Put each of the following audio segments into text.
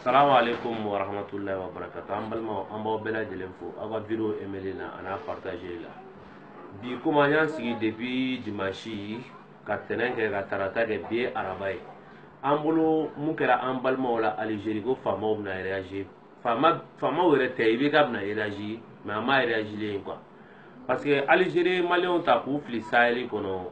salamu alaikum wa rahmatullahi wa barakatu an balimaw an b'aw bɛɛ lajɛlen fo aw ka video emeli na an'a partagé la bi komi an y'an sigi depuis dimanche ka tɛnɛn kɛ ka tarata kɛ bi ye araba ye an bolo mun kɛra an balimaw la algérie ko faamaw bɛna réagir faama faamaw yɛrɛ tɛ IBK bɛna réagir mais an m'a réagilen ye quoi parce que algérie maliyɛnw ta k'u fili sahɛli kɔnɔ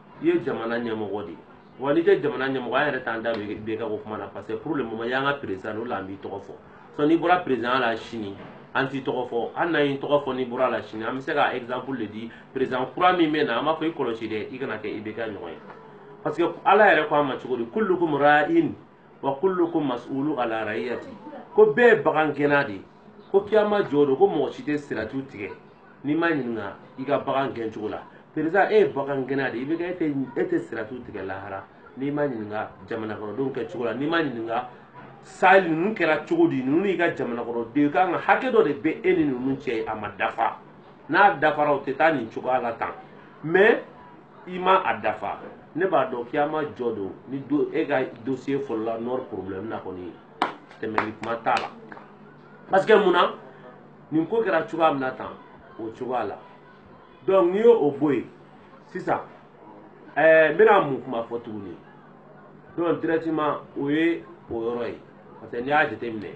i ye jamana ɲɛmɔgɔ de ye wa n'i tɛ jamana ɲɛmɔgɔ an yɛrɛ t'an da don IBK ko kuma na parce que pour le moment y'an ka président o la an b'i tɔgɔ fɔ sinon n'i bɔra président la sini an t'i tɔgɔ fɔ hali n'an y'i tɔgɔ fɔ n'i bɔra la sini an bɛ se ka exemple de di président kura min bɛ na an b'a fɔ i kɔlɔsi dɛ i kana kɛ IBK ɲɔgɔn ye parce que ala yɛrɛ ko an ma cogo di kullukum ra'in wa kullukum mas'ulu ala ra'iyati ko bɛɛ ye bagan gɛnna de ye ko kiyama jɔ don ko mɔgɔ si tɛ siratu tigɛ n'i ma ɲininka i ka bagan gɛn cogo la président e ye bagan gɛnna de ye IBK e tɛ e tɛ siratu tigɛ lahara n'i ma ɲininka jamanakɔnɔdenw kɛ cogo la n'i ma ɲininka sa ninnu kɛra cogo di ninnu y'i ka jamanakɔnɔden i kan ka hakɛ dɔ de bɛ e ni ninnu cɛ a ma dafa n'a dafara o tɛ taa nin cogoya la tan mais i ma a dafa ne b'a dɔn kiyama jɔ don ni e ka dossier fɔlɔ la nord problème na kɔni tɛmɛli kuma t'a la parce que mun na nin ko kɛra cogoya min na tan o cogoya la donc n'i y'o bɔ yen sisan ɛɛ eh, n bɛna mun kuma fɔ tuguni donc directement o ye o yɔrɔ ye parce que n'i y'a jateminɛ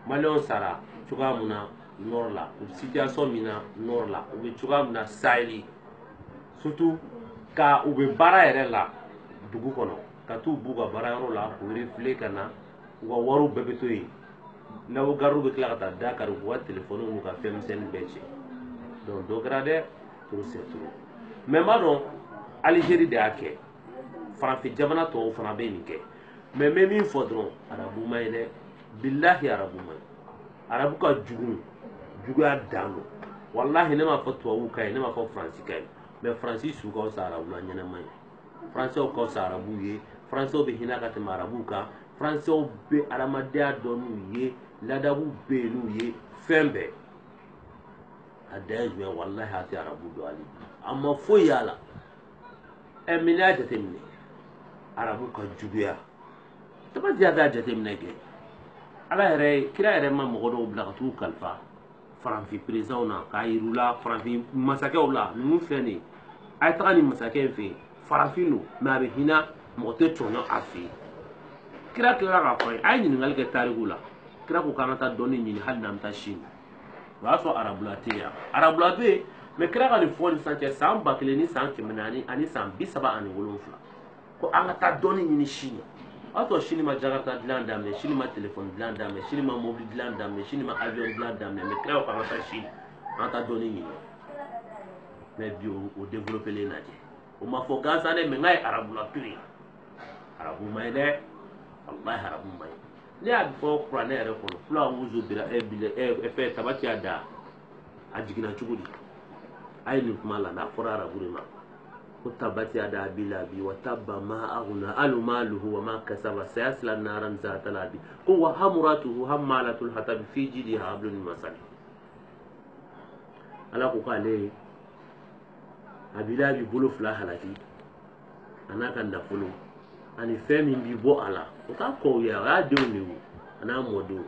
maliyɛnw sara cogoya min na nord la u bɛ situation min na nord la u bɛ cogoya min na saheli surtout ka u bɛ baara yɛrɛ la dugu kɔnɔ ka t'u b'u ka baara yɔrɔ la k'u refouler ka na u ka wariw bɛɛ bɛ to yen n'aw gardiw bɛ tila ka taa da kari k'u ka telefɔniw n'u ka fɛn misɛnnin bɛɛ cɛ donc dɔ kɛra dɛ trop c'est trop mais n b'a dɔn algérie de y'a kɛ farafin jamana tɔw fana bɛ nin kɛ mais n bɛ min fɔ dɔrɔn arabu man ɲi dɛ bilahi arabu man ɲi arabu ka jugu juguya dan don walahi ne m'a fɔ tubabuw ka ɲi ne m'a fɔ faransi ka ɲi mais faransi su ka fisa arabula ɲɛnama ye faransɛw ka fisa arabuw ye faransɛw bɛ hinɛ ka tɛmɛ arabuw kan faransɛw bɛ adamadenya dɔn n'u ye ladabu bɛ yen n'u ye fɛn bɛɛ a dan ye jumɛn walahi a tɛ arabu dɔn hali bi a ma foyi y'a la ɛ mais n'i y'a jateminɛ arabu ka juguya tabati y'a t'a jateminɛ kɛ ala yɛrɛ kira yɛrɛ ma mɔgɔ dɔw bila ka t'u kalifa faranfin présidentw na k'a yir'u la faranfin masakɛw la ninnu filɛ nin ye a ye taga nin masakɛ in fɛ yen farafin don mais a bɛ hinɛ mɔgɔ tɛ tɔɲɔ a fɛ yen kira tilara k'a fɔ a ye a ye ɲininkali kɛ tariku la kira ko k'an ka taa dɔnni ɲini hali n'an bɛ taa sini o y'a sɔrɔ arabula tɛ yan arabula bɛ yen mais kira ka nin fɔ nin san cɛ san ba kelen ni san kɛmɛ naani ani san bi saba ani wolonwula ko an ka taa dɔnni ɲini sini la o y'a sɔrɔ sini ma jakarta dilan daminɛ sini ma telefɔni dilan daminɛ sini ma mobili dilan daminɛ sini ma avion dilan daminɛ mɛ kira ko an ka taa sini an ka taa dɔnni ɲini mɛ bi o développélen lajɛ o ma fɔ gansan dɛ mɛ n k'a ye arabula to yen arabu man ɲi dɛ walahi arabu man ɲi ne y'a fɔ kuranɛ yɛrɛ kɔnɔ fula wuzu bira ɛ bila ɛ fɛ tabati yada a jiginna cogo di a ye nin kuma la n'a fɔra arabu de ma ko tabati yada abi labi wa tabba ma aghna anhu maluhu wa ma kasaba sayasla naran zata labi ko wa amratuhu hammalatul hatab fi jidiha hablun min masad ala ko k'ale abi labi bolo fila halaki a n'a ka nafolo ani fɛn min bi bɔ a la o t'a kɔw ye o y'a denw de ye a n'a mɔdenw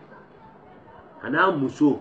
a n'a muso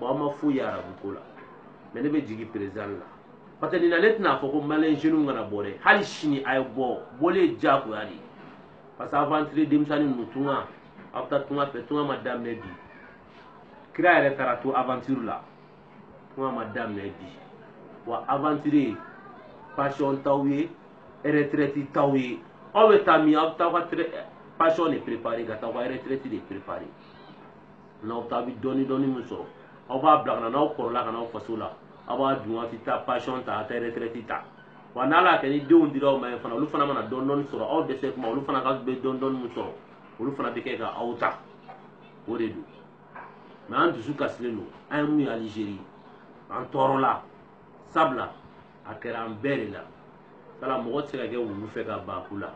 bon an ma foyi ye arabu ko la mɛ ne bɛ jigin perezan la parce que nin na ne tɛna fɔ ko maliyɛn jeunes kana bɔ dɛ hali sini a ye bɔ bɔli ye diyagoya de ye parce que aventure denmisɛnnin ninnu tunga aw bɛ taa tunga fɛ tunga ma daminɛ bi kira yɛrɛ taara to aventure la tunga ma daminɛ bi wa aventure pension t'aw ye retraite t'aw ye aw bɛ taa min aw bɛ taa aw ka pension de préparer ka taa aw ka retraite de préparer n'aw taa bɛ dɔɔni dɔɔni min sɔrɔ aw b'a bila ka na n'aw kɔrɔla ka n'aw faso la aw b'a dun aw tɛ taa pansiyɔn ta aw tɛ retraite ta wa n'ala y'a kɛ ni denw dira aw ma yen fana olu fana mana dɔɔni dɔɔni sɔrɔ aw dɛsɛ tuma olu fana ka bɛ dɔɔni dɔɔni min sɔrɔ olu fana b'o kɛ ka aw ta o de don mɛ an dusu kasilen don an ye mun ye alizeri an tɔɔrɔla sabula a kɛra an bɛɛ de la kala mɔgɔ tɛ se ka kɛ wulu fɛ ka ban ku la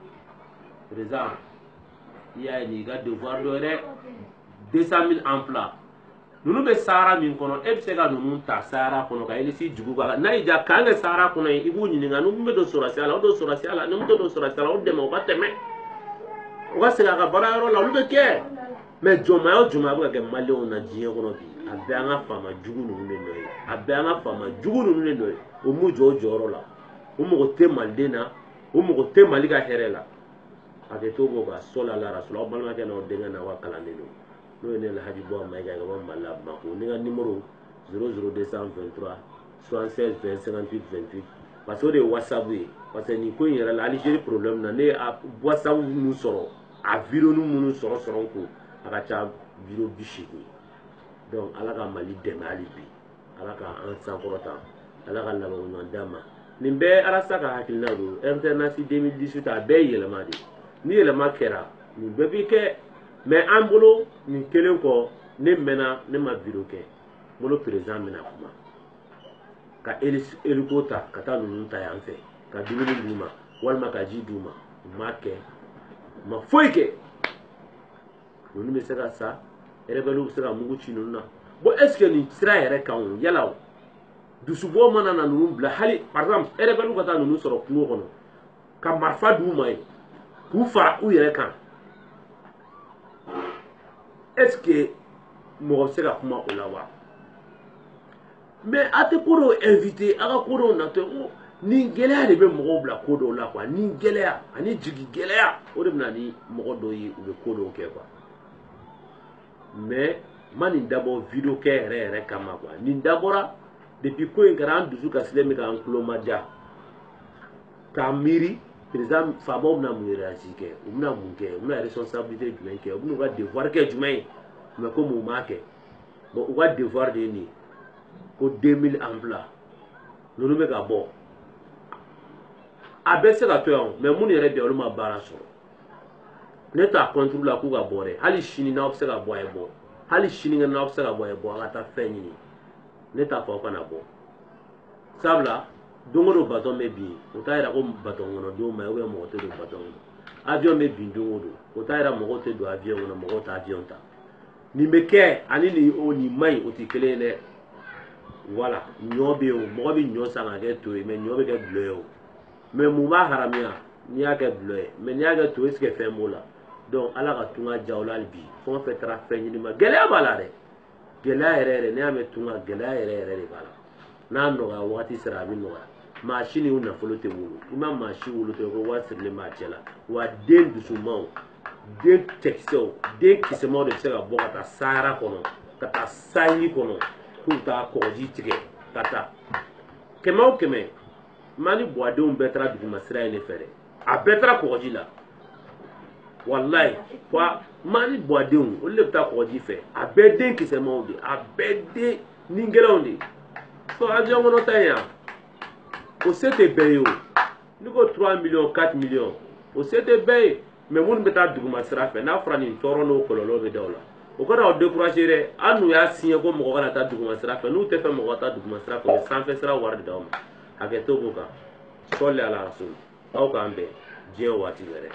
perezan i y'a ye nin ka devoir dɔ ye dɛ deux cent mille emplois ninnu bɛ sahara min kɔnɔ e bɛ se ka ninnu ta sahara kɔnɔ ka elisi jugu k'a la n'a y'i diya kan kɛ sahara kɔnɔ yen i b'u ɲininka n'u bɛ don sɔrɔsiya la o don sɔrɔsiya la n'u tɛ don sɔrɔsiya la o dɛmɛ o ka tɛmɛ o ka segin a ka baara yɔrɔ la olu bɛ kɛ mɛ jɔnmaya o jɔnmaya bɛ ka kɛ maliyɛnw na diɲɛ kɔnɔ bi a bɛɛ an ka faama jugu ninnu de nɔ ye a bɛɛ an ka faama jugu ninnu de nɔ ye o m'u jɔ o jɔyɔrɔ la o mago tɛ maliden na o mago tɛ mali ka hɛrɛ la a bɛ to k'o ka sɔli ala rasulu aw balimakɛ n'aw denkɛ n'aw ka kalanden don n'o ye ne lahaji buwa mayiga ka bɔ mali la bamako ne ka nimoro 00223 76 20 58 28 parce que o de ye wasabu ye parce que nin ko in yɛrɛ la alizeri problème na ne ye wasabu minnu sɔrɔ a vidéoni minnu sɔrɔ sɔrɔ n kun a ka ca vidéo bi seegin donc ala ka mali dɛmɛ hali bi ala ka an sankɔrɔta ala ka laban ɲuman d'an ma nin bɛɛ arasa ka hakilina don alternance 2018 a bɛɛ ye yɛlɛma de ni yɛlɛma kɛra nin bɛɛ bi kɛ mɛ an bolo nin kelen kɔ ne mɛnna ne ma video kɛ bolo président bɛna kuma ka hélico ta ka taa ninnu ta yan fɛ ka dumuni d'u ma walima ka ji d'u ma u m'a kɛ u ma foyi kɛ ninnu bɛ se ka sa rebɛliw bɛ se ka mugu ci ninnu na bon est ce que nin sira yɛrɛ kan o yala o dusubɔ mana na ninnu bila hali par exemple rebɛliw ka taa ninnu sɔrɔ kungo kɔnɔ ka marifa d'u ma yen k'u fara u yɛrɛ kan est ce que mɔgɔ bɛ se ka kuma o la wa mais a tɛ ko dɔw éviter a ka ko dɔw natɔ n ko ni gɛlɛya de bɛ mɔgɔw bila ko dɔw la quoi ni gɛlɛya ani jigi gɛlɛya o de bɛ na ni mɔgɔ dɔw ye u bɛ ko dɔw kɛ quoi mais n ma nin dabɔ video kɛ yɛrɛ yɛrɛ kama quoi nin dabɔra depuis ko in kɛra an dusu kasilen bɛ k'an tulomajɔ k'a miiri président faamaw bɛna mun réagir kɛ u bɛna mun kɛ u bɛna responsabilité jumɛn kɛ u bɛna u ka devoir kɛ jumɛn ye mais comme u m'a kɛ bon u ka devoir de ye nin ye ko 2000 emplois ninnu bɛ ka bɔ a bɛ se ka to yan o mais minnu yɛrɛ bɛ yen olu ma baara sɔrɔ ne t'a contre la k'u ka bɔ dɛ hali sini n'aw bɛ se ka bɔ a ye bɔ hali sinikɛnɛ n'aw bɛ se ka bɔ a ye bɔ an ka taa fɛn ɲini ne t'a fɔ aw kana bɔ sabula don o don batɔn bɛ bin o t'a yira ko batɔn kɔnɔ don man ɲi mɔgɔ tɛ don batɔn kɔnɔ avion bɛ bin don o don o t'a yira mɔgɔw tɛ don avion kɔnɔ mɔgɔw tɛ avion ta nin bɛ kɛ ani nin o nin man ɲi o tɛ kelen ye dɛ voilà ɲɔ bɛ yen o mɔgɔ bɛ ɲɔ san k'a kɛ to ye mais ɲɔ bɛ kɛ dulɔ ye o mais mun b'a haramuya n'i y'a kɛ dulɔ ye mais n'i y'a kɛ to ye est ce que fɛn b'o la donc ala ka tunga diya u la hali bi fɛn o fɛn taara fɛn ɲini ma gɛlɛya b'a la dɛ gɛlɛya yɛrɛ yɛrɛ n'i y'a mɛn tunga gɛlɛya yɛrɛ yɛrɛ de b'a la n'a nɔgɔya wagati sera a bɛ nɔgɔya maa si ni nafolo tɛ wolo i ma maa si wolo tɛ ko wari sirilen b'a cɛ la wa den dusumanw den cɛkisɛw den kisɛmaw de bɛ se ka bɔ ka taa sahara kɔnɔ ka taa saheli kɔnɔ k'u taa kɔgɔji tigɛ ka taa kɛmɛ o kɛmɛ mali buwadenw bɛɛ taara duguma sira in de fɛ dɛ a bɛɛ taara kɔgɔji la walayi wa mali buwadenw olu de bɛ taa kɔgɔji fɛ a bɛɛ den kisɛmaw de a bɛɛ den nigɛlɛnw de fɔ avion kɔnɔ ta in yan o se tɛ bɛɛ ye o ne ko 3 millions 4 millions o se tɛ bɛɛ ye mais minnu bɛ taa duguma sira fɛ n'a fɔra nin tɔɔrɔ n'o kɔlɔlɔ bɛ da o la o kana aw décourager dɛ an n'u y'a signé ko mɔgɔ kana taa duguma sira fɛ n'u t'a fɛ mɔgɔ ka taa duguma sira fɛ u ye sanfɛ sira wari de d'aw ma hakɛ to b'o kan sɔli ala rasul aw k'an bɛn diɲɛ waati wɛrɛ